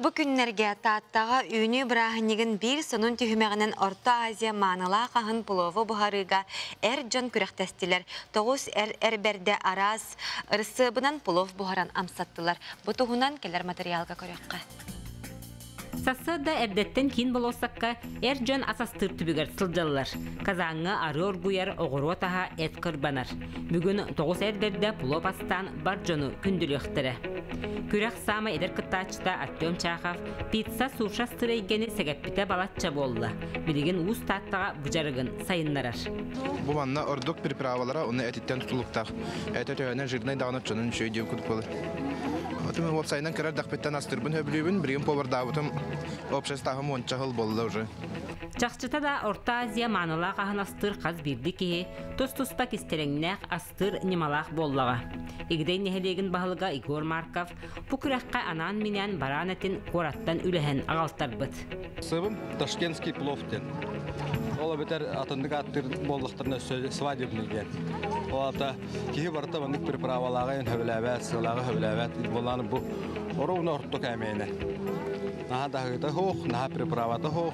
Бу күннэргэ Тааттаҕа үүнүү бырааһынньыгын биир сонун түһүмэҕинэн Орто Азия маанылаах аһын плову буһарыыга эр дьон күрэхтэстилэр. Тоҕус эр эр бэрдэ араас ырысыабынан плов буһаран амсаттылар. Бу туһунан кэлэр матырыйаалга көрүөххэ. Сарсыарда эрдэттэн киин болуоссакка эр дьон ас астыыр түбүгэр сылдьаллар. Казаҥҥа арыы оргуйар оҕуруот аһа эт кырбанар. Бүгүн тоҕус эрдэрдэ плов астаан бар дьону күндүлүөхтэрэ. Күрэх саамай эдэр кыттааччыта Артем Чахов пицца суша сыр эйгэни сэгэппитэ балачча буолла. Билигин уус Тааттаҕа быдьарыгын сайыннарар. Бу манна ордук приправалара уонна этиттэн тутулуктаах. Это төһөнөн жирнэй даҕаны оччонон үчүгэй диэн курдук буолар. Отун уопсайынан кэлэр дакпыттан астыырбын сөбүлүүбүн, билигин повардаабытым обществоһым уонча хыл болла уже. Чахчыта да Орто Азия маанылаах аһын астыыр хас биирдии киһи Тус-туспа кистэлэҥнээх, астыыр ньымалаах буоллаҕа. Игидэй нэһилиэгин баһылыга Егор Марков бу күрэххэ анаан-минээн бараан этин куораттан үлэһэн аҕалтарбыт. Сыбым Ташкентский плов диэн. Ол эбэтэр атыннык ааттыыр буоллахтарына өссө свадебный диэн. Ол аата киһи барыта маннык приправалааҕа өһөбөлөөбөөт, сылааҕа өһөбөлөөбөөт буоллаан бу орууна орто кээмэйинэ. Наһаа даһыыта хоох, наһаа приправата хоох,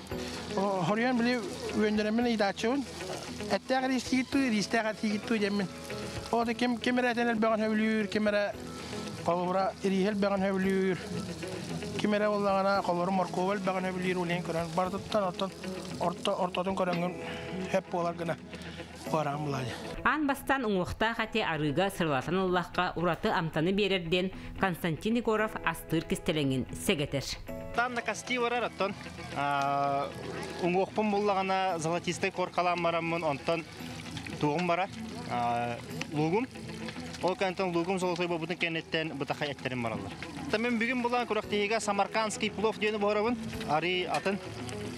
Хоруйан били үөннэрэммин ыйдааччыбын. Эттээх ириистигит туу, ириистээх атигит туу диэммин. Оото ким ким эрэ этэн элбэҕин сөбүлүүр, ким эрэ холобура ирииһи элбэҕин сөбүлүүр, ким эрэ буоллаҕына холобура моркуоба элбэҕин сөбүлүүр, улиһин көрөн барытыттан оттон орто ортотун көрөҥҥүн сөп буолар гына. Аан бастаан уҥуохтаах ати арыыга сыралатан ыллахха ураты амтаны биэрэр диэн Константин Егоров астыыр кистэлэҥин сэгэтэр. Там на кости барар оттон уҥуохпун буллаҕына золотистой коркалаан бараммын онтон туоҕум бара луугум ол кэнниттэн луугум золотой бобутун кэнниттэн бытаха эттэрин бараллар. Тамын бүгүн булан күрэхтиһиигэ самаркандский плов диэни буһарабын арый атын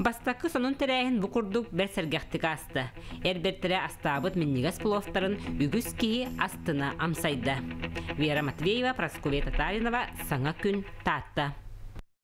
Бастакы сонун тэрээһин бу курдук бэрт сэргэхтик ааста. Эр бэртэрэ астаабыт минньигэс пловтарын үгүс киһи астына амсайда. Вера Матвеева, Прасковья Татаринова, Саҥа күн, Таатта.